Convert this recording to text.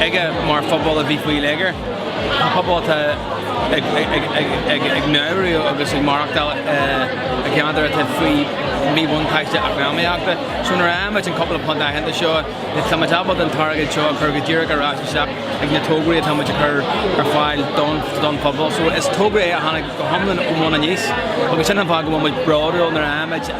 aige mar phobal a bhí faoi léigear, pobal atá ag maireachtáil agus ag maireachtáil i gceantar atá faoi mhíbhuntáiste eacnamaíochta. So nuair a fhaigheann muid an cúpla punt aitheanta seo, tá muid ábalta an t-airgead seo a chur go díreach ar ais isteach ag na tograí atá muid a chur ar fáil don phobal. So is togra é a tháinig go hiomlán ó bhun aníos agus sin an fáth go bhfuil muid bródúil nuair a fhaigheann muid